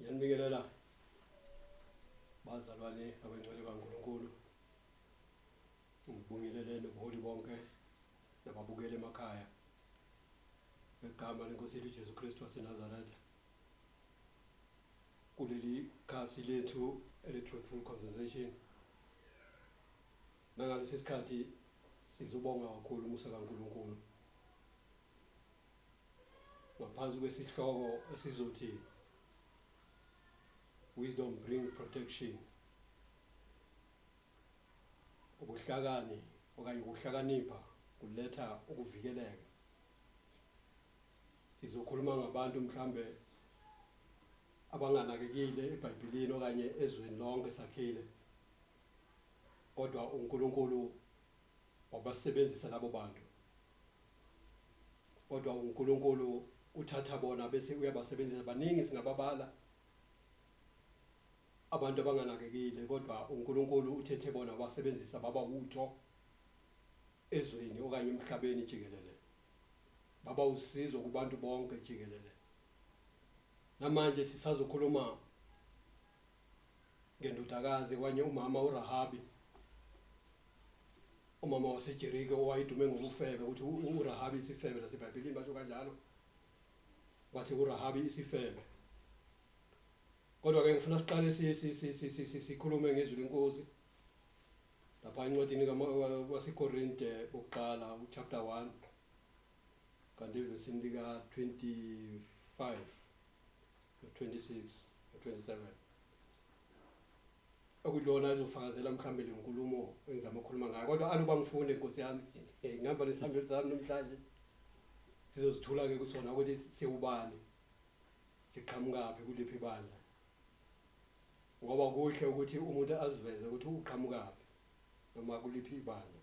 Ngiyanibingelela bazalwane abengcwele kaNkulunkulu. Ngibingelele nobuholi bonke nababukeli emakhaya. Ngegama leNkosi yethu Jesu Kristu waseNazaretha. Kuleli khasi lethu ele-Truthful Conversations. Nangalesi sikhathi sizobonga kakhulu umusa kaNkulunkulu. ngaphansi kwesihloko esizothi Wisdom Bring Protection ubuhlakani okanye ukuhlakanipha kuletha ukuvikeleka sizokhuluma ngabantu mhlambe abanganakekile eBhayibhelini okanye ezweni lonke sakhile kodwa uNkulunkulu wabasebenzisa labo bantu kodwa uNkulunkulu uthatha bona bese uyabasebenzisa baningi singababala abantu abanganakekile kodwa uNkulunkulu uthethe bona wasebenzisa baba wutho ezweni okanye emhlabeni jikelele baba usizo kubantu bonke jikelele namanje sisazokhuluma ngendodakazi kwanye umama uRahabi umama wasejerike owayedume ngobufebe ukuthi urahabi isifebe nasebhayibhelini basho kanjalo wathi urahabi isifebe kodwa-ke ngifuna siqale sikhulume ngezwi lenkosi lapha encwadini wasekorinte bokuqala uchapter 1 kanti evesini lika-25 26 no 27 okuyona azofakazela mhlambe le nkulumo engizama ukukhuluma ngayo kodwa aluba ngifunde nkosi yami ngihamba nesihambeli sami namhlanje sizozithula ke kusona ukuthi siwubani siqhamukaphi kuliphi bandla ngoba kuhle ukuthi umuntu aziveze ukuthi uqhamukaphi noma kuliphi ibandla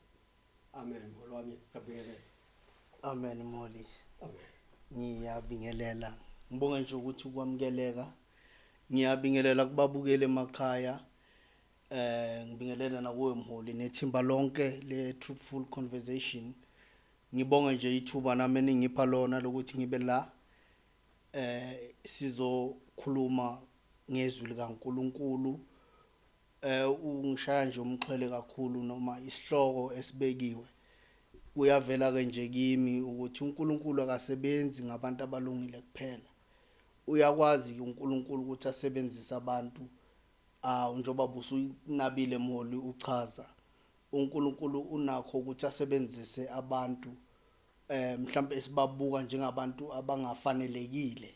Amen mholi wami sabingelela. Amen mholi. Amen. Ngiyabingelela. Ngibonga nje ukuthi ukwamukeleka. Ngiyabingelela kubabukeli emakhaya. Eh ngibingelela nakuwe mholi nethimba lonke le truthful conversation. Ngibonga nje ithuba nami ningipha lona lokuthi ngibe la eh sizokhuluma ngezwi likaNkuluNkulu Eh ungishaya nje umxhwele kakhulu noma isihloko esibekiwe. Kuyavela ke nje kimi ukuthi uNkulunkulu akasebenzi ngabantu abalungile kuphela. Uyakwazi ke uNkulunkulu ukuthi asebenzise abantu ah njengoba busunabile Moli uchaza uNkulunkulu unakho ukuthi asebenzise abantu eh mhlambe esibabuka njengabantu abangafanelekile.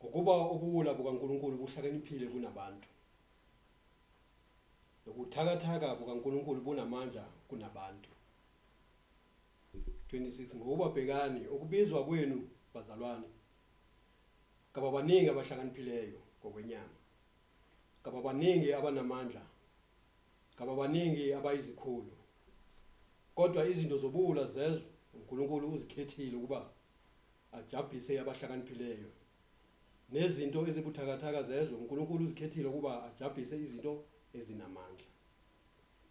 Ngokuba ubuwula bukaNkulunkulu buhlakaniphile kunabantu, nobuthakathaka bukaNkulunkulu bunamandla kunabantu. 26 ngokuba bhekani, ukubizwa kwenu, bazalwane, kababaningi abahlakaniphileyo ngokwenyama, kababaningi abanamandla, kababaningi abayizikhulu, kodwa izinto zobuwula zezwe uNkulunkulu uzikhethile ukuba ajabhise abahlakaniphileyo. Nezinto ezibuthakathaka zezwe, uNkulunkulu uzikhethile ukuba ajabhise izinto ezinamandla.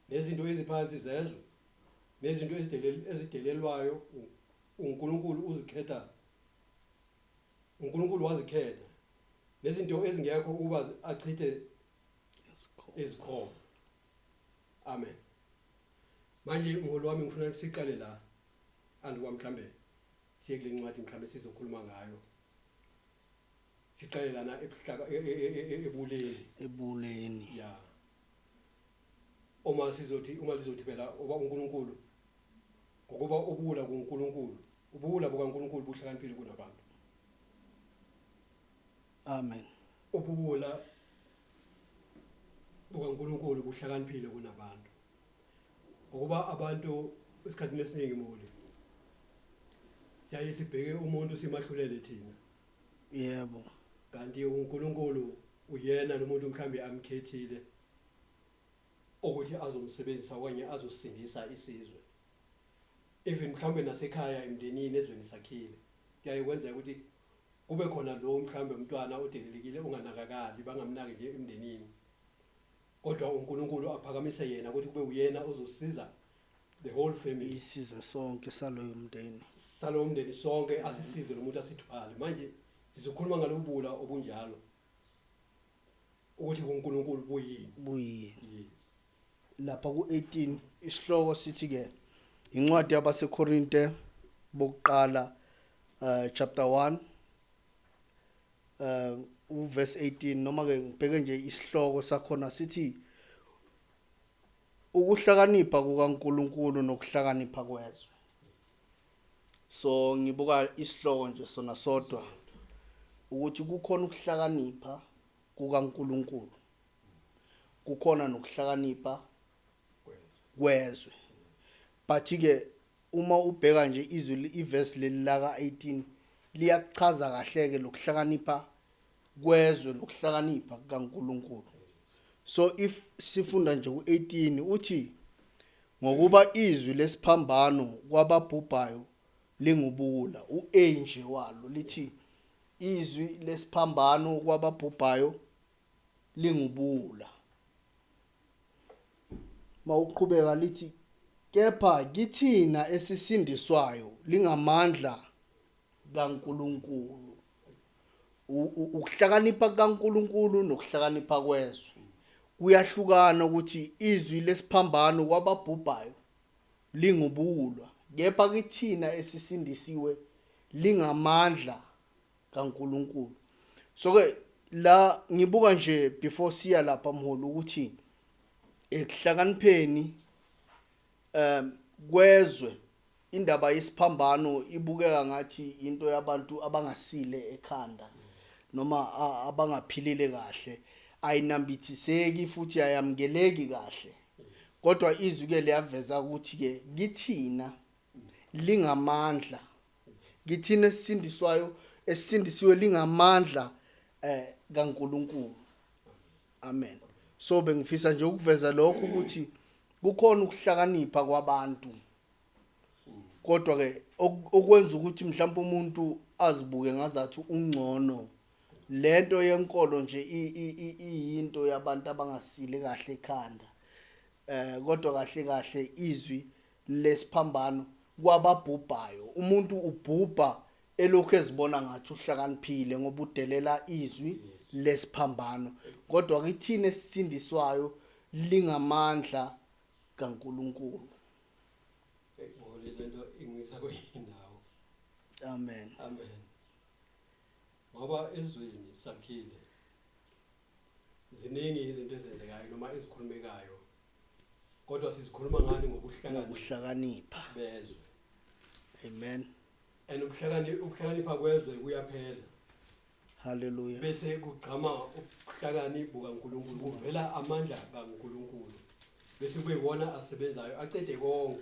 Nezinto eziphansi zezwe, nezinto ezidelel, ezidelelwayo, u- uNkulunkulu uzikhetha. UNkulunkulu wazikhetha. Nezinto ezingekho ukuba zi- achithe izikhona. Amen. Manje mholi wami ngifuna siqale la andikwamhlambele. Siye kule ncwadi mhlawumbe sizokhuluma ngayo siqale lana ebuhlaka e- e- e- e- ebuleni ebuleni ya uma sizothi uma lizothi phela oba uNkulunkulu ngokuba ubula kuNkulunkulu ubula bukaNkulunkulu buhlakaniphile kunabantu amen ubula bukaNkulunkulu buhlakaniphile kunabantu ngokuba abantu esikhathini esiningi muli siyaye sibheke umuntu simahlulele thina yebo kanti uNkulunkulu uyena lo muntu mhlambe amkhethile ukuthi azomsebenzisa okanye azosindisa isizwe even mhlambe nasekhaya emndenini ezweni sakhile kuyaye kwenzeka ukuthi kube khona lo mhlambe umntwana odelelekile onganakakali bangamnaki nje emndenini Kodwa uNkulunkulu aphakamise yena ukuthi kube uyena ozosiza the whole family. Isizwe sonke saloyo mndeni. Salowo mndeni sonke asisize lo muntu asithwale. Manje sizokhuluma ngalobubula obunjalo. Ukuthi uNkulunkulu buyini? Buyini. Yes. Lapha ku-18 isihloko sithi ke incwadi yabaseKorinte bokuqala uh, chapter 1 um uverse 18 noma ke ngibheke nje isihloko sakhona sithi ukuhlakanipha kukaNkuluNkulu nokuhlakanipha kwezwe so ngibuka isihloko nje sona sodwa ukuthi kukhona ukuhlakanipha kukaNkuluNkulu kukhona nokuhlakanipha kwezwe but ke uma ubheka nje izwi iverse leli laka 18 liyakuchaza kahle ke lokuhlakanipha kwezwe lokuhlakanipha kukaNkuluNkulu so if sifunda nje ku18 uthi ngokuba izwi lesiphambano kwababhubhayo lingubula uA nje walo lithi izwi lesiphambano kwababhubhayo lingubula Mawuqhubeka lithi, Kepha kithina esisindiswayo lingamandla kaNkulunkulu. Ukuhlakanipha kaNkulunkulu nokuhlakanipha kwezwe kuyahlukana ukuthi izwi lesiphambano kwababhubhayo lingubuwulwa kepha kithina esisindisiwe lingamandla kaNkulunkulu so ke la ngibuka nje before siya lapha mholi ukuthi ekuhlakanipheni um kwezwe indaba yesiphambano ibukeka ngathi into yabantu abangasile ekhanda noma abangaphilile kahle ayinambithiseki futhi ayamukeleki kahle kodwa izwi ke liyaveza ukuthi ke kithina lingamandla Kithina esisindiswayo esisindisiwe lingamandla eh kaNkuluNkulu. Amen. So bengifisa nje ukuveza lokho ukuthi kukhona ukuhlakanipha kwabantu. Kodwa ke okwenza ukuthi mhlawumbe umuntu azibuke ngazathi ungcono lento yenkolo nje iyinto yabantu abangasile kahle ekhanda. Eh kodwa kahle kahle izwi lesiphambano kwababhubhayo. Umuntu ubhubha elokhu ezibona ngathi uhlakaniphile ngoba udelela izwi lesiphambano. Kodwa kithina esisindiswayo lingamandla kaNkulunkulu. Ekubole lento ingisa kuyindawo. Amen. Amen. Ngoba ezweni sakhile ziningi izinto ezenzekayo noma ezikhulumekayo kodwa sizikhuluma ngani ngokuhlakanipha bezwe amen and ukuhlakanipha kwezwe kuyaphela haleluya bese kugqama ukuhlakanipha kukaNkuluNkulu kuvela amandla kaNkuluNkulu bese kuyiwona asebenzayo acede konke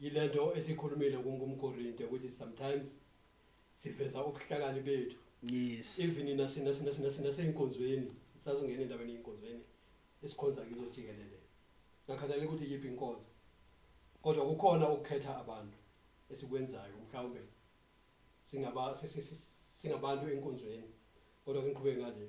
Yilento esiyikhulumile ku ngumkorinte ukuthi sometimes siveza ubuhlakani bethu. Yes. Even nase nase nase nase naseyinkonzweni sazongena endabeni yinkonzweni esikhonza kizo jikelele. Ngakhathalela ukuthi yiphi inkonzo. Kodwa kukhona ukukhetha abantu esikwenzayo mhlawumbe singaba si- si- si- singabantu enkonzweni kodwa ngiqhubeke ngale.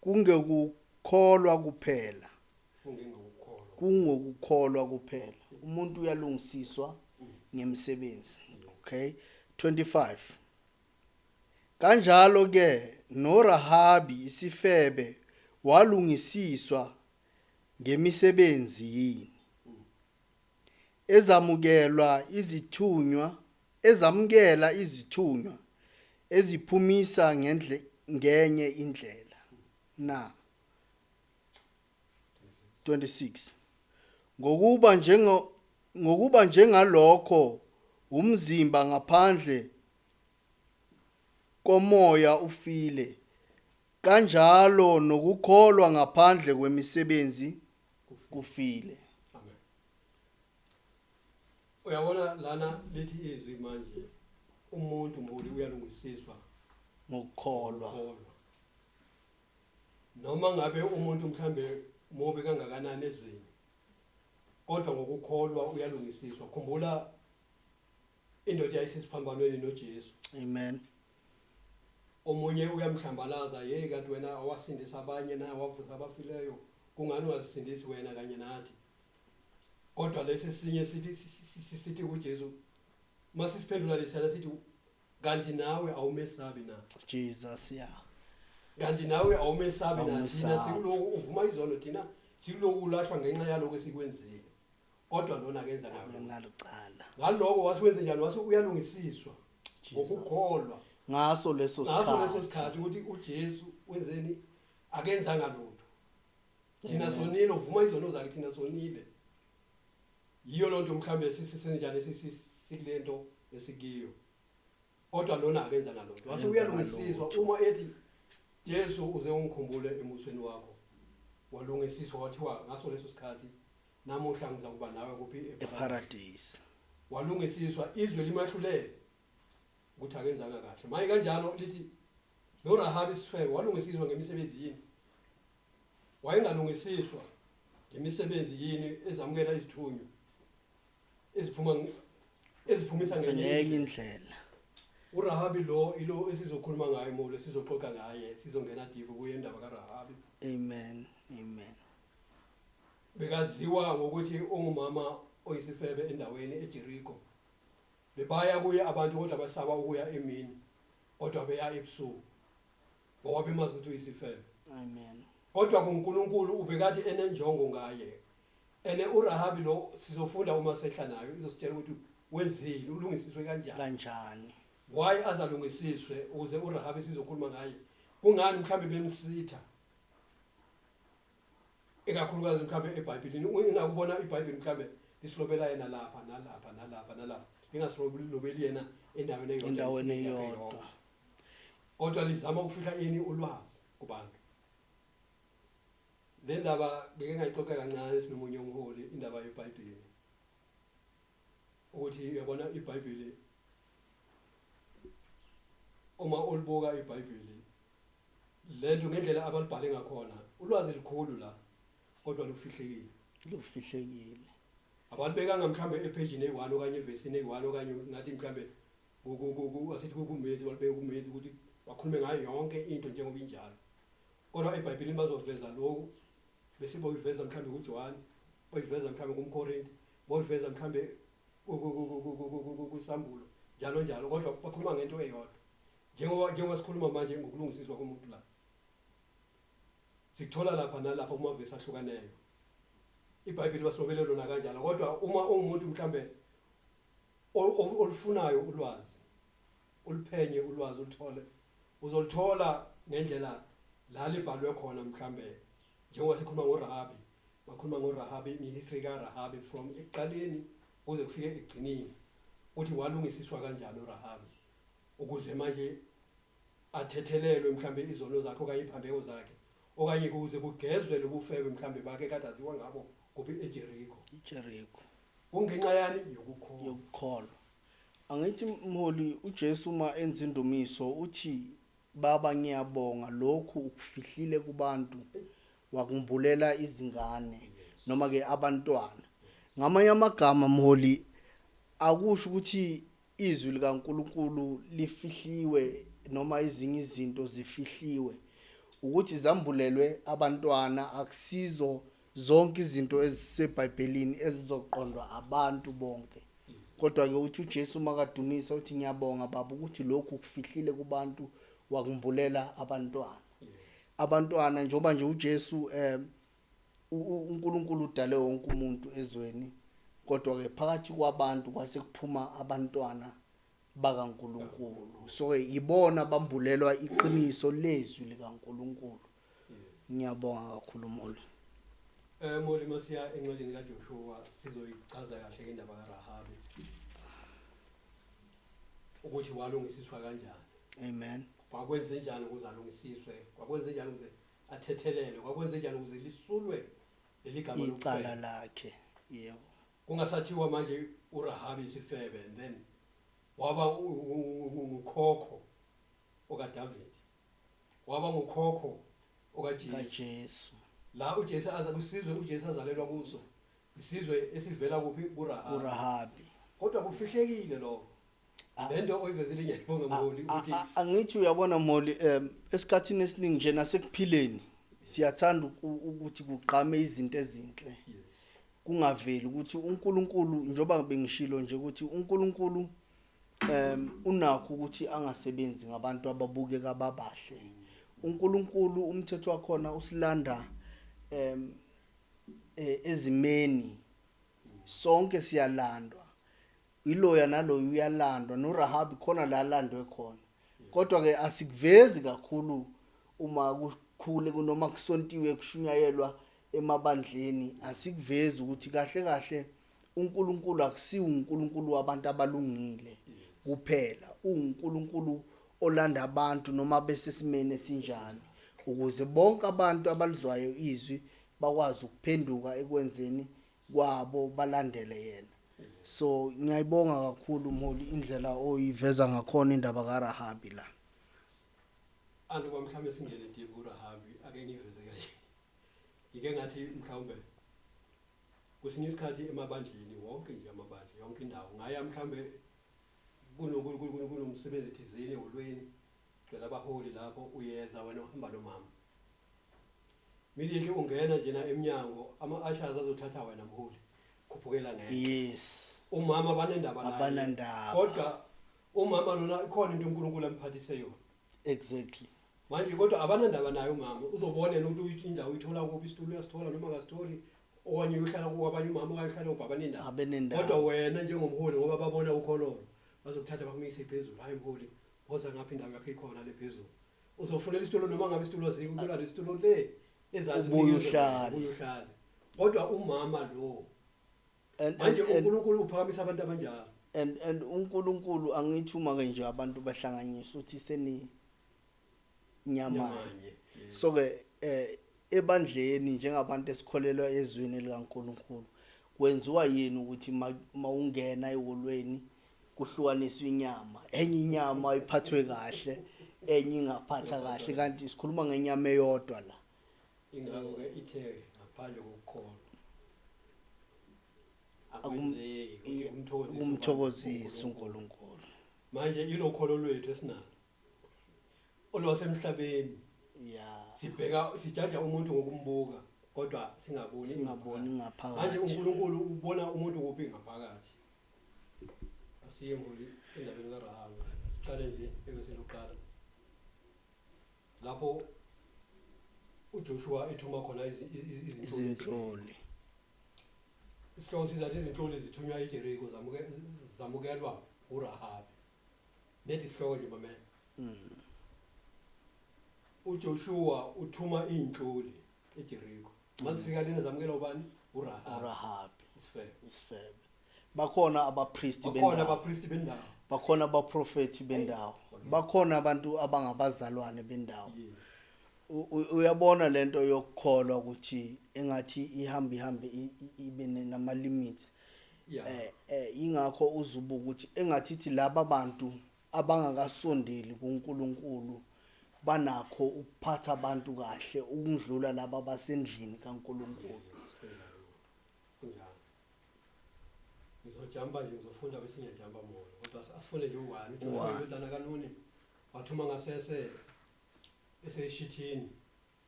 Kungekukholwa kuphela. Kungengokukholwa. Kungokukholwa kuphela. Umuntu uyalungisiswa ngemisebenzi. Okay. 25. Kanjalo ke noRahabi isifebe walungisiswa ngemisebenzi yini? ezamukelwa izithunywa ezamukela izithunywa eziphumisa ngendle, ngenye indlela na 26 ngokuba njengo ngokuba njengalokho wumzimba ngaphandle komoya ufile, kanjalo nokukholwa ngaphandle kwemisebenzi kufile. Uyabona lana lithi izwi manje umuntu mbuli uyalungisiswa ngokukholwa. Kholwa. Noma ngabe umuntu mhlambe mubi kangakanani ezweni kodwa ngokukholwa uyalungisiswa. Khumbula Indoda yayisesiphambanweni noJesu. Amen. Omunye uyamhlambalaza, hey kanti wena awasindisa abanye na wavusa abafileyo, kungani wazisindisi wena kanye nathi? Kodwa lesi sinye sithi sithi kuJesu masisiphendula lesana sithi kanti nawe awumesabi na? Jesus ya. Kanti nawe awumesabi na? Thina sikuloku uvuma izono thina sikuloku ulahlwa ngenxa yaloko esikwenzile. kodwa lona akenza ngalo ngalo cala ngaloko wase wenze njalo wase uyalungisiswa ngokukholwa ngaso leso sikhathi ngaso leso sikhathi ukuthi uJesu wenzeni akenzanga lutho thina mm. sonile uvuma izono zakhe thina sonile yiyo lonto mhlambe sisisenjani sikulento esikiyo kodwa lona akenzanga lutho wase uyalungisiswa uma ethi Jesu uze ungikhumbule emusweni wakho walungisiswa wathiwa ngaso leso sikhathi namuhla ngiza kuba nawe kuphi eparadise walungisiswa izwe limahlulele ukuthi akenzanga kahle maye kanjalo lithi noRahabi isifebe walungisiswa ngemisebenzi yini wayengalungisiswa ngemisebenzi yini ezamukela izithunywa eziphuma eziphumisa ngenye indlela uRahabi lo ilo esizokhuluma ngaye molo sizoxoxa ngaye sizongena deep kuye indaba kaRahabi amen amen bekaziwa ngokuthi ungumama oyisifebe endaweni eJericho bebaya kuye abantu kodwa basaba ukuya emini kodwa beya ebusuku ngoba bemazi ukuthi uyisifebe. Amen. Kodwa kuNkulunkulu ubekade enenjongo ngaye. Ene uRahabi lo sizofunda uma sehla nayo izositshela ukuthi wenzile ulungisiswe kanjani. Kanjani? Why azalungisiswe ukuze uRahabi sizokhuluma ngaye. Kungani mhlambe bemsitha? Ekakhulukazi mhlambe eBhayibhelini ungakubona iBhayibheli mhlambe lisilobela yena lapha nalapha nalapha nalapha. Ingasilobeli yena endaweni eyodwa. Endaweni eyodwa. Kodwa lizama ukufihla ini ulwazi kubantu. Le ndaba ngeke ngayixoxa kancane sinomunye umholi indaba yeBhayibheli. Ukuthi uyabona iBhayibheli uma ulibuka iBhayibheli lento ngendlela abalibhale ngakhona ulwazi likhulu la kodwa lufihlekile. Lufihlekile. Abalibekanga mhlambe ephejini eyi-1 okanye evesini eyi-1 okanye ngathi mhlambe Asithi kukumenzi balibeke kumenzi ukuthi bakhulume ngayo yonke into njengoba injalo. Kodwa eBhayibhelini bazoveza lokhu bese boyiveza mhlawumbe kuJohane, boyiveza mhlawumbe kumKorinte, boyiveza mhlawumbe kuSambulo njalo njalo kodwa bakhuluma ngento eyodwa. Njengoba njengoba sikhuluma manje ngokulungisiswa komuntu la. Sikuthola lapha nalapha uma vese ahlukaneyo. IBhayibheli basilobele lona kanjalo kodwa uma ungumuntu mhlawumbe olufunayo ulwazi uliphenye ulwazi ulithole uzolithola ngendlela la libhalwe khona mhlambe njengoba sikhuluma ngoRahabi bakhuluma ngoRahabi ngehistory kaRahabi from ekuqaleni kuze kufike ekugcineni ukuthi walungisiswa kanjani uRahabi ukuze manje athethelelwe mhlambe izono zakhe okanye iphambeko zakhe okanye kuze kugezwe lobufebe mhlambe bakhe kade aziwa ngabo kuphi eJericho iJericho Kungenxa yani? Yokukholwa. Yokukholwa. Angithi mholi uJesu uma enza indumiso uthi baba ngiyabonga lokhu ukufihlile kubantu wakumbulela izingane noma ke abantwana. Ngamanye amagama mholi akusho ukuthi izwi likaNkulunkulu lifihliwe noma izinye izinto zifihliwe ukuthi zambulelwe abantwana akusizo Zonke izinto eziseBhayibhelini ezizoqondwa abantu bonke. Kodwa-ke uthi uJesu uma kadumisa uthi ngiyabonga baba ukuthi lokhu kufihlile kubantu wakumbulela abantwana. Abantwana njengoba nje uJesu um uNkulunkulu udale wonke umuntu ezweni kodwa-ke phakathi kwabantu kwase kuphuma abantwana bakaNkulunkulu so-ke yibona bambulelwa iqiniso lezwi likaNkulunkulu Ngiyabonga kakhulu Molly. Eh Molly masiya encwadini kaJoshua sizoyichaza kahle indaba kaRahabi. Ukuthi walungisiswa kanjani. Amen. Kwakwenze njani ukuze alungisiswe? Kwakwenze njani ukuze athethelelwe? Kwakwenze njani ukuze lisulwe leligama icala lakhe? Yebo. Kungasathiwa manje uRahabi isifebe and then waba ukhokho okaDavid. waba ngukhokho okaJesu. KaJesu. La uJesu aza kusizwe uJesu azalelwa kuso isizwe esivela kuphi kuRahabi. URahabi. Kodwa kufihlekile lokho. Lento oyivezile ngiyayibonga Moli ukuthi A- a- angithi uyabona moli um esikhathini esiningi nje nasekuphileni siyathanda uku- ukuthi kugqame izinto ezinhle yes. kungaveli ukuthi uNkulunkulu njoba bengishilo nje ukuthi uNkulunkulu um unakho ukuthi angasebenzi ngabantu ababukeka babahle uNkulunkulu umthetho wakhona usilanda um ezimeni sonke siyalandwa iloya naloyo uyalandwa noRahabi khona la landwe khona kodwa ke asikuvezi kakhulu uma kukhule kunoma kusontiwe kushunyayelwa emabandleni asikuvezi ukuthi kahle kahle UNkulunkulu akusiwo uNkulunkulu wabantu abalungile kuphela, uwuNkulunkulu olanda abantu noma besesimeni esinjani, ukuze bonke abantu abalizwayo izwi bakwazi ukuphenduka ekwenzeni kwabo balandele yena. So ngiyayibonga kakhulu mholi indlela oyiveza ngakhona indaba kaRahabi la. Andiba mhlawumbe singene deep uRahabi ake ngiveze kanje. Ngike ngathi mhlawumbe Kwesinye isikhathi emabandleni wonke nje amabandla yonke indawo ungaya mhlawumbe kunomsebenzi thizeni eholweni gcwele abaholi lapho uyeza wena uhamba nomama immediately ungena njena emnyango ama-ashers azothatha wena mholi khuphukela ngeke yes umama banendaba naye Abanandaba. kodwa umama lona ikhona into uNkulunkulu amphathise yona exactly manje kodwa abanandaba naye umama uzobona yena ukuthi indawo uyithola kuphi isitulo uyasithola noma akasitholi okanye uyohlala kwabanye umama okanye uhlala ubaba nendawo Abenendawo. kodwa wena njengomholi ngoba babona ukhololo bazokuthatha bakumise phezulu hayi mholi woza ngapha indawo yakho ikhona le phezulu uzofunela isitulo noma ngabe isitulo ziko uyola lesitulo le ezazi Ubuye uhlale. ubuye uhlale kodwa umama lo And, manje and, and, unkulunkulu uphakamisa abantu abanjalo and, and unkulunkulu angithi uma ke nje abantu bahlanganyisa uthi seni nyamanye nyamanye Yeah. so ke eh ebandleni njengabantu esikholelwa ezwini likaNkuluNkulu kwenziwa yini ukuthi ma- mawungena eholweni kuhlukaniswa inyama enye inyama iphathwe kahle enye ingaphatha kahle kanti sikhuluma ngenyama eyodwa la Ingakho-ke ithe ngaphandle kokukholwa akwenzeki ukuthi i- kumthokozise kumthokozisa uNkulunkulu. manje ilokholo lwethu esinalo olwasemhlabeni Ya. sibheka sijaja umuntu ngokumbuka kodwa singaboni Singaboni ingaphakathi. manje ngaphakathi. uNkulunkulu ubona umuntu kuphi ngaphakathi asiye ngoli endabeni kaRahabi siqale nje ebese loqala lapho uJoshua ethuma khona izinhloli isihloko sizathi izinhloli zithunywa ijeriko zamukelwa urahabi nedi isihloko nje mamela hmm. uJoshua uthuma izinhloli ejeriko uma zifika lena zamukela ubani urahabi urahabi isifebe isifebe bakhona abapristi bakhona bendawo abapristi bendawo bakhona abaprofethi bendawo bakhona abantu abangabazalwane bendawo yes U- u- uyabona lento yokukholwa ukuthi engathi ihambe ihambe i- i- ibe ne- nama limits yeah eh eh ingakho uzubuka ukuthi engathi ithi laba bantu abangakasondeli kuNkulunkulu banakho ukuphatha abantu kahle ukundlula laba basendlini kaNkulunkulu. Ngizojamba nje ngizofunda bese ngiyajamba mona kodwa asifunde nje uwani uJoshua indodana kaNuni wathuma ngasese eseshithini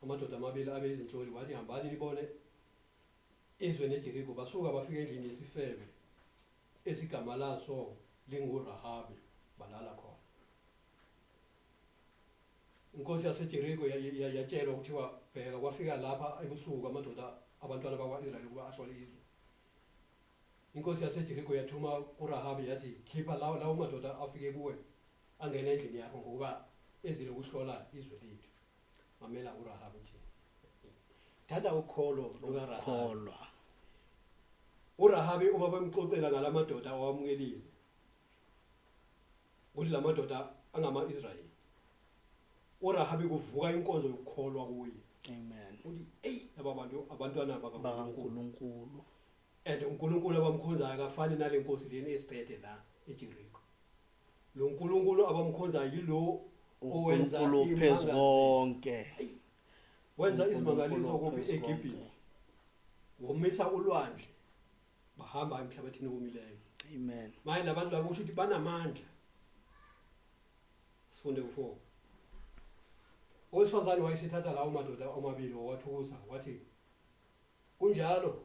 amadoda amabili abe izinhloli wathi hambani nibone izwe neJeriko basuka bafika endlini yesifebe esigama laso linguRahabi, balala khona. Inkosi yaseJeriko yatshelwa kuthiwa, Bheka, kwafika lapha ebusuku amadoda abantwana bakwa-Israyeli ukuba ahlole izwe. Inkosi yaseJeriko yathuma kuRahabi yathi, Khipha lawo lawo madoda afike kuwe angene endlini yakho ngokuba ezile ukuhlola izwe lethu. mamela urahabi nje thanda ukholo lukarahabi kholwa urahabi uma bemxoxela ngalamadoda awamukelile ukuthi lamadoda angama-israyeli urahabi kuvuka inkonzo yokukholwa kuye amen uthi eyi laba bantu abantwana bakankulunkulu bakankulunkulu and unkulunkulu abamkhonzayo akafani nale nkosi leni esiphethe la ejericho Lo Nkulunkulu abamkhonzayo yilowo owenza uNkulunkulu phezu imangaliso. konke. Wenza uNkulunkulu izimangaliso kuphi phezu eGibhithe. konke. Womisa ulwandle. Bahamba emhlabathini owomileyo. Amen. Manje labantu labo kusho ukuthi banamandla. Sifunde u4. Owesifazane wayesethatha lawo madoda omabili wawathukuza wathi kunjalo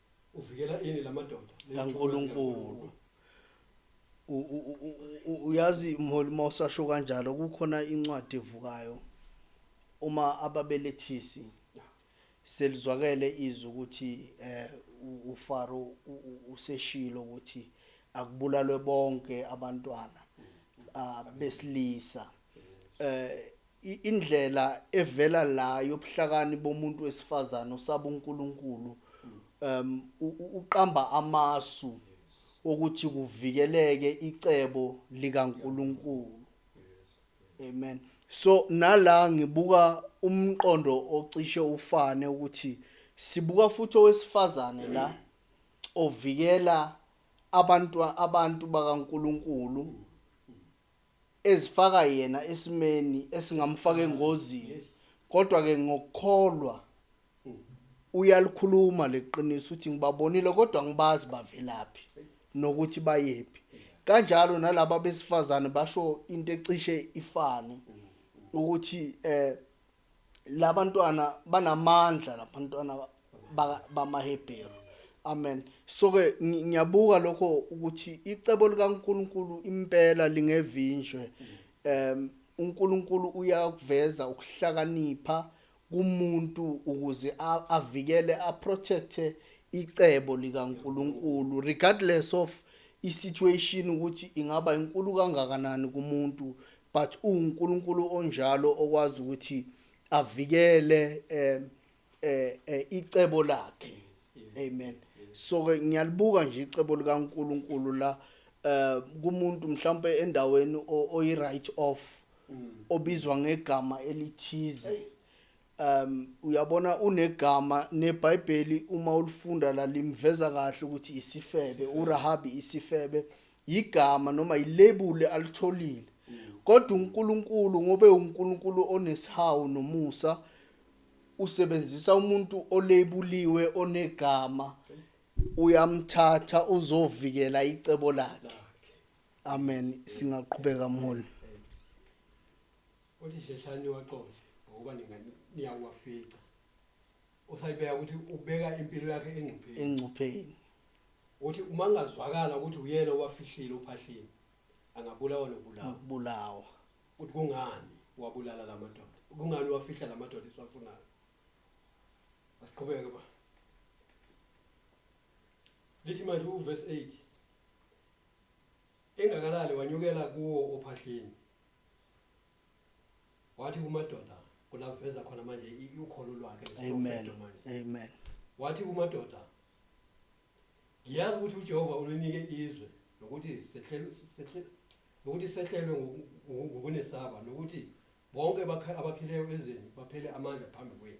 uvikela ini lamadoda kaNkuluNkulu uyazi mholi mawusasho kanjalo kukhona incwadi evukayo uma ababelethisi selizwakele izwi ukuthi eh uFaro useshilo ukuthi akubulalwe bonke abantwana ah, besilisa eh indlela evela la yobuhlakani bomuntu wesifazane osaba uNkulunkulu um uqamba amasu ukuthi kuvikeleke icebo likaNkulunkulu amen so nala ngibuka umqondo ocishe ufane ukuthi sibuka futhi owesifazane la ovikela abantu abantu bakaNkuluNkulu ezifaka yena esimeni esingamfaka engozini kodwa ke ngokukholwa uyalikhuluma leqiniso uthi ngibabonile kodwa ngibazi bavelaphi nokuthi bayephi kanjalo nalabo besifazane basho into ecishe ifane ukuthi eh labantwana banamandla labantwana bamaHebheru amen so ke ngiyabuka lokho ukuthi icebo likaNkuluNkulu impela lingevinjwe um uNkulunkulu uyakuveza ukuhlakanipha kumuntu ukuze avikele aprotecte icebo likaNkuluNkulu regardless of isituation ukuthi ingaba inkulu kangakanani kumuntu but uwuNkulunkulu onjalo okwazi ukuthi avikele eh, eh, eh, icebo lakhe amen so ke ngiyalibuka nje icebo likaNkulunkulu la eh kumuntu mhlawumbe endaweni o- oyi right off obizwa ngegama elithize um uyabona unegama neBhayibheli uma ulifunda la limveza kahle ukuthi isifebe uRahabi isifebe yigama noma yilebuli alitholile kodwa uNkulunkulu ngobe uNkulunkulu onesihawu nomusa usebenzisa umuntu olebuliwe onegama uyamthatha uzovikela icebo lakhe amen singaqhubeka mholi uthi sheshani waxoshe ngoba ningani niyawafica Usayibeka ukuthi ubeka impilo yakhe engcupheni. Engcupheni. Uthi uma kungazwakala ukuthi uyena owafihlile uphahlile angabulawa nokubulawa. Nokubulawa. Uthi kungani wabulala lamadoda? Kungani wafihla lamadoda isiwafunayo? Asiqhubeke ba. Lithi manje uverse 8 engakalali wanyukela kuwo ophahleni wathi kumadoda kulafeza khona manje i- ukholo lwakhe Amen. lesiprofeto manje Amen. wathi kumadoda ngiyazi ukuthi ujehova ulinike izwe nokuthi sehlelwe- sehle- nokuthi sehlelwe ngoku- ngoku- ngokunesaba nokuthi bonke abakha- abakhileyo ezweni baphele amandla phambi kwenu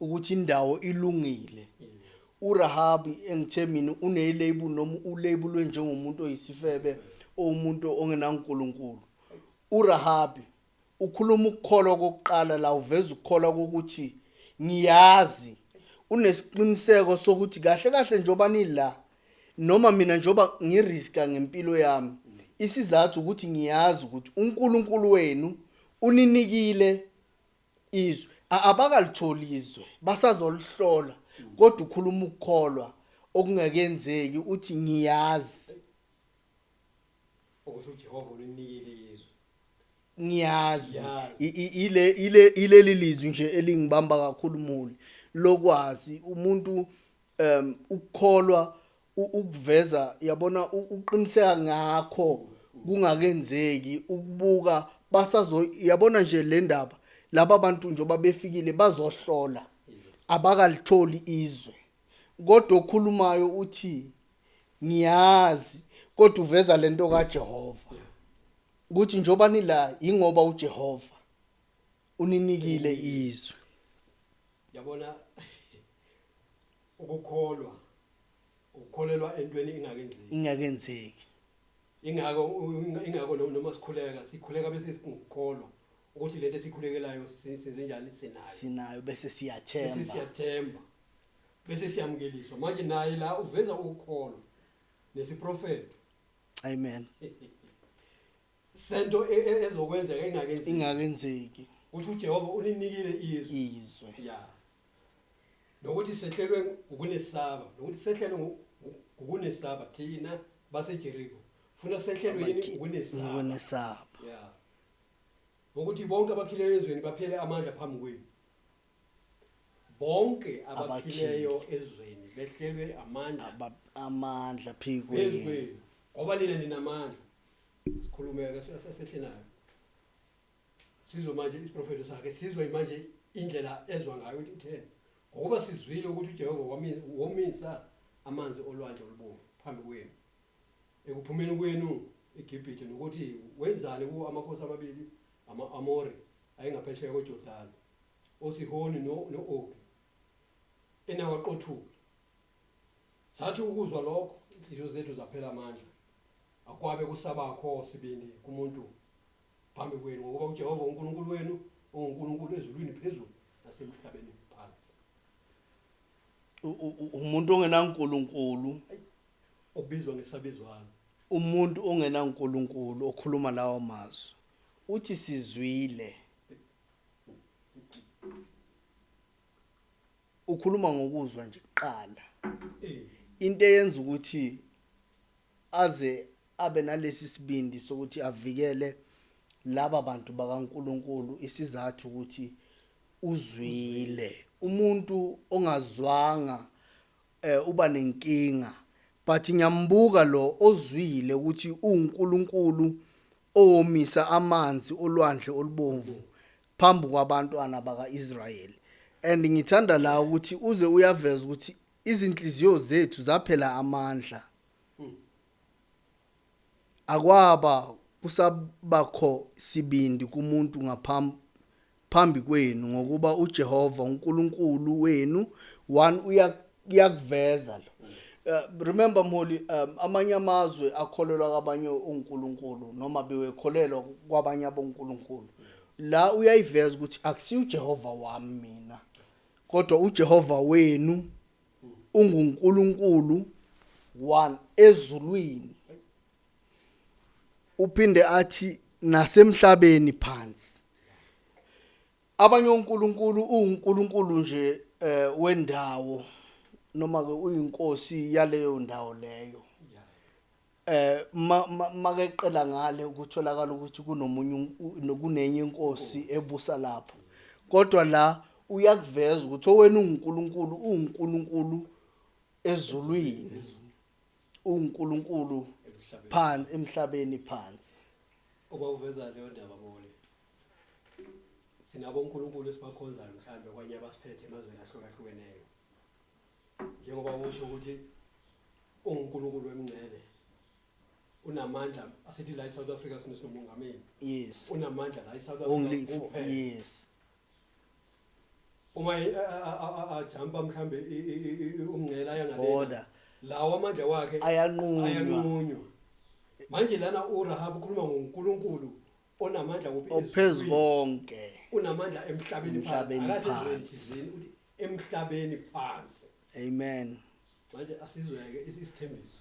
ukuthi indawo ilungile uRahabi engithe mina unelabel noma ulabelwe njengomuntu oyisifebe owumuntu ongenaNkulunkulu uRahabi ukhuluma ukukholwa kokuqala la uveza ukukholwa kokuthi ngiyazi unesiqiniseko sokuthi kahle kahle njoba nila noma mina njoba ngiriska ngempilo yami isizathu ukuthi ngiyazi ukuthi uNkulunkulu wenu uninikile izwe a- abakalitholi izwe basazolihlola kodwa ukhuluma ukukholwa okungakenzeki uthi ngiyazi ukuthi uJehova ulinikile izwe ngiyazi Ngiyazi. I- i- ile ile ileli lizwi nje elingibamba kakhulu muli lokwazi umuntu um ukukholwa ukuveza yabona uqiniseka ngakho kungakenzeki ukubuka basazo yabona nje le ndaba laba bantu njengoba befikile bazohlola abakalitholi izwe kodwa okhulumayo uthi ngiyazi kodwa uveza lento kaJehova ukuthi njengoba nila ingoba uJehova uninikile izwe yabona Ukukholwa ukukholelwa entweni ingakenzeki. Ingakenzeki. Ingako ingako noma sikhuleka sikhuleka bese sikukholwa ukuthi lento esikhulekelayo senze njani sinayo. Sinayo bese siyathemba. Bese siyathemba. Bese siyamukeliswa. Manje naye la uveza ukukholwa nesiprofeto. Amen. sento e- e- ezokwenzeka engakenzeki ingakenzeki ukuthi uJehova uninikile izwi izwe ya nokuthi sehlelwe ukunesaba nokuthi sehlelwe ngu- ngu- ukunesaba thina baseJericho funa sehlelwe yini Abakhi- ukunesaba ngokunesaba ya ukuthi bonke abakhileyo ezweni baphele amandla phambi kwenu bonke abakhileyo ezweni behlelwe amandla Aba- amandla phezu phekwenu kwenu ngoba nina ninamandla sikhulumeke sesehle nayo sizwe manje isiprofeto sakhe sizwe manje indlela ezwa ngayo ukuthi utheni ngokuba sizwile ukuthi uJehova womisa amanzi olwandle olubomvu phambi kwenu ekuphumeni kwenu eGibhithe nokuthi wenzani kuwo amakhosi amabili ama-Amori ayengaphesheya koJordani oSihoni no-Ogi enawaqothula Sathi ukuzwa lokho, inhliziyo zethu zaphela amandla. Akwabe kusabakho sibindi kumuntu phambi kwenu, ngokuba uJehova uNkulunkulu wenu unguNkulunkulu ezulwini phezulu nasemhlabeni phansi. U- u- u- umuntu ongenankulunkulu Ayi, obizwa ngesabizwana. umuntu ongenankulunkulu okhuluma lawo mazwi uthi sizwile ukhuluma ngokuzwa nje kuqala into eyenza ukuthi aze abe nalesi sibindi sokuthi avikele laba bantu bakaNkuluNkulu isizathu ukuthi uzwile umuntu ongazwanga eh uba nenkinga but ngiyambuka lo ozwile ukuthi uNkuluNkulu owomisa amanzi olwandle olubomvu phambi kwabantwana baka-Israyeli and ngithanda la ukuthi uze uyaveza ukuthi izinhliziyo zethu zaphela amandla akwaba kusabakho sibindi kumuntu ngaphambi phambi kwenu ngokuba uJehova uNkulunkulu wenu one kuyakuveza lo uh, remember mholi um, amanye amazwe akholelwa kwabanye uNkulunkulu noma bewekholelwa kwabanye aboNkulunkulu la uyayiveza ukuthi akusiyo uJehova wami mina kodwa uJehova wenu unguNkulunkulu one ezulwini uphinde athi nasemhlabeni phansi Abanye onkulunkulu uwunkulunkulu nje eh wendawo noma ke uyinkosi yaleyo ndawo leyo. Eh makeqela ngale ukutholakala ukuthi kunomunye kunenye inkosi ebusa lapho. Kodwa la uyakuveza ukuthi owena unguNkulunkulu uwuNkulunkulu ezulwini uwuNkulunkulu phansi emhlabeni phansi obawuveza leyo ndaba mole sinabo uNkulunkulu esibakhonzayo mhlambe kwanye abasiphethe emazweni ahlukahlukeneyo njengoba usho ukuthi unguNkulunkulu wemngcele unamandla asithi la eSouth Africa sino sinomongameli yes unamandla la eSouth Africa only for yes uma ajamba mhlambe umngcela yangalena lawo amandla wakhe ayanqunywa manje lana uRahab ukhuluma ngoNkulunkulu onamandla kuphi ophezu konke unamandla emhlabeni phansi uthi emhlabeni phansi amen manje asizweke isithembiso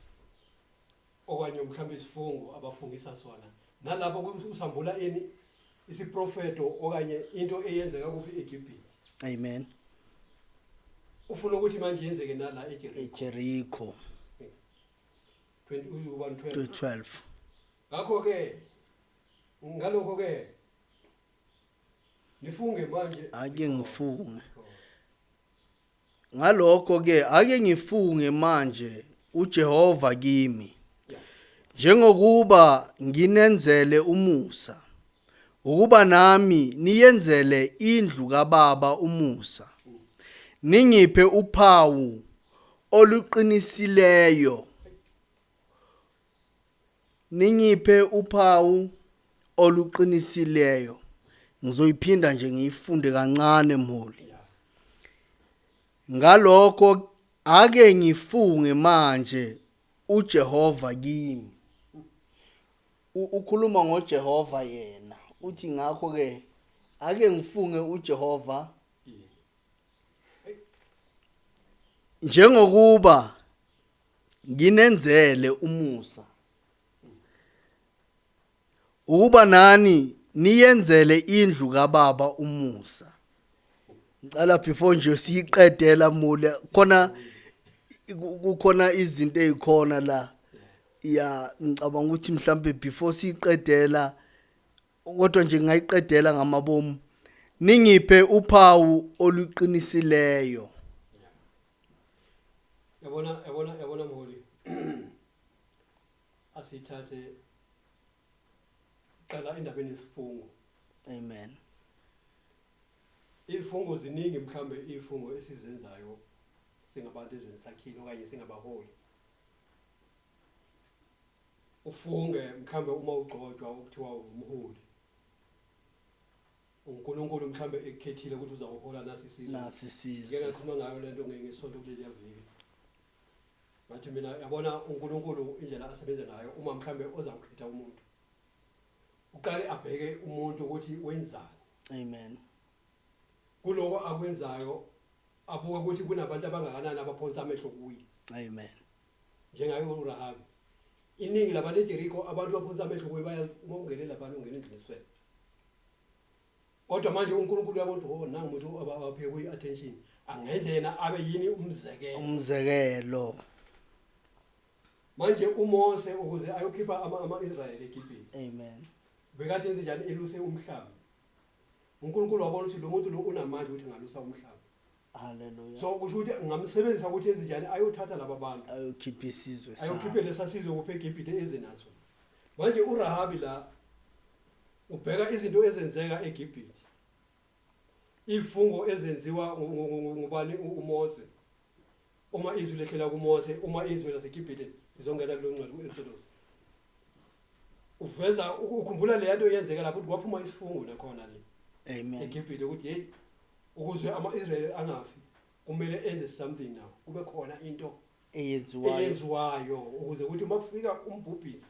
okanye mhlawumbe isifungo abafungisa sona nalapho usambula ini isiprofeto okanye into eyenzeka kuphi eGibhithe amen ufuna ukuthi manje yenzeke nala eJericho eJericho 2012 Ngakho-ke, ngalokho-ke, nifunge manje. Ake ngifunge. Ngalokho-ke, ake ngifunge manje uJehova kimi. Njengokuba nginenzele umusa, ukuba nami niyenzele indlu kaBaba umusa. Ningiphe uphawu oluqinisileyo Ningiphe uphawu oluqinisileyo. Ngizoyiphinda nje ngiyifunde kancane mholi. Ngalokho ake ngifunge manje uJehova kimi. Ukhuluma ngoJehova yena. Uthi ngakho ke ake ngifunge uJehova njengokuba nginenzele umusa ukuba nani niyenzele indlu kababa umusa ngicela before nje siyiqedela mule khona kukhona izinto ezikhona la ya ngicabanga ukuthi mhlambe before siyiqedela kodwa nje ngayiqedela ngamabomu ningiphe uphawu oluqinisileyo yabona yabona yabona mholi asithathe qala indaba enesifungo amen izifungo ziningi mhlambe izifungo esizenzayo singabantu ezweni sakhile okanye singabaholi ufunge mhlambe uma ugcotshwa ukuthiwa umholi UNkulunkulu mhlawumbe ekukhethile ukuthi uzawuhola nasi isizwe. Nasi isizwe. Ngike ngakhuluma ngayo lento nge- ngesonto kuleliya viki. Ngathi mina yabona uNkulunkulu indlela asebenza ngayo uma mhlawumbe ozawukhetha umuntu. Uqale abheke umuntu ukuthi wenzani. Amen. Kuloko akwenzayo abuke ukuthi kunabantu abangakanani abaphonsa amehlo kuye. Amen. njengaye uRahabi iningi labantu eJeriko abantu baphonsa amehlo kuye baya uma ungene labantu ungena endlini eswele kodwa manje uNkulunkulu uyabona ukuthi oh nangu umuntu abaphe kuyi attention angenze yena abe yini umzekelo umzekelo manje uMose ukuze ayokhipha ama ama-Israyeli eGibhithe amen bekade enze njani eluse umhlaba uNkulunkulu wabona ukuthi lo muntu lo unamandla ukuthi ngalusa umhlaba Hallelujah. so kusho ukuthi ngamsebenzisa ukuthi enze njani ayothatha laba bantu Ayokhipha isizwe sakhe. ayokhiphe lesasizwe kuphe eGibhite eze naso manje uRahabi la ubheka izinto ezenzeka eGibhite ifungo ezenziwa ngu- ngu- ngu- ngubani u- uMose Uma izwi lehlela kuMose, uma izwi laseGibhithe sizongena kulo ngcwele uEnselos. Uveza ukukhumbula le nto yenzeka lapho ukuthi kwaphuma isifungo nakhona le. Amen. EGibhithe ukuthi hey ukuze amaIsrael angafi kumele enze something now. Kube khona into eyenziwayo eyenziwayo ukuze ukuthi makufika umbhubhisi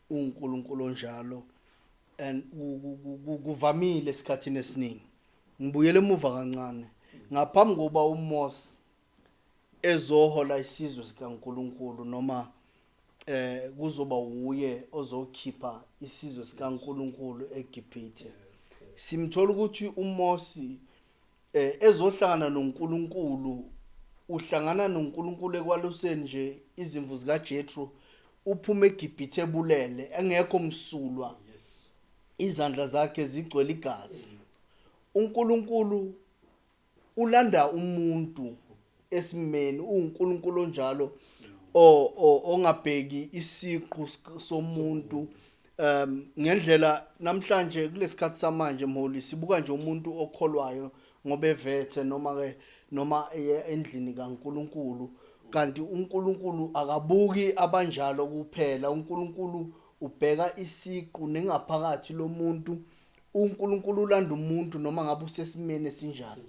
UNkulunkulu onjalo and kuvamile esikhathini esiningi. Ngibuyele emuva kancane ngaphambi kokuba uMose ezohola isizwe sikaNkulunkulu noma eh kuzoba wuye ozokhipha isizwe sikaNkulunkulu eGibhithe. Simthola ukuthi uMose eh ezohlangana noNkulunkulu uhlangana noNkulunkulu ekwaluseni nje izimvu zikaJethro uphuma eGibhithe ebulele engekho msulwa izandla zakhe zigcwele igazi uNkulunkulu ulanda umuntu esimeni uNkulunkulu onjalo ongabheki isiqu somuntu um ngendlela namhlanje kulesikhathi samanje mholi sibuka nje umuntu okholwayo ngoba evethe noma ke noma eye endlini kaNkuluNkulu kanti uNkulunkulu akabuki abanjalo kuphela uNkulunkulu ubheka isiqu nengaphakathi lomuntu uNkulunkulu ulanda umuntu noma ngabe usesimeni esinjani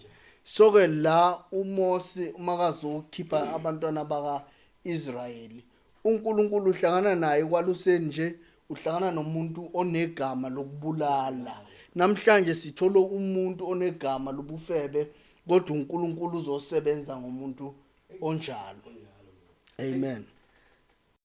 soke la uMose umakazokhipha abantwana baka Israyeli uNkulunkulu uhlangana naye kwaluseni nje uhlangana nomuntu onegama lokubulala namhlanje sithola umuntu onegama lobufebe kodwa uNkulunkulu uzosebenza ngomuntu onjalo amen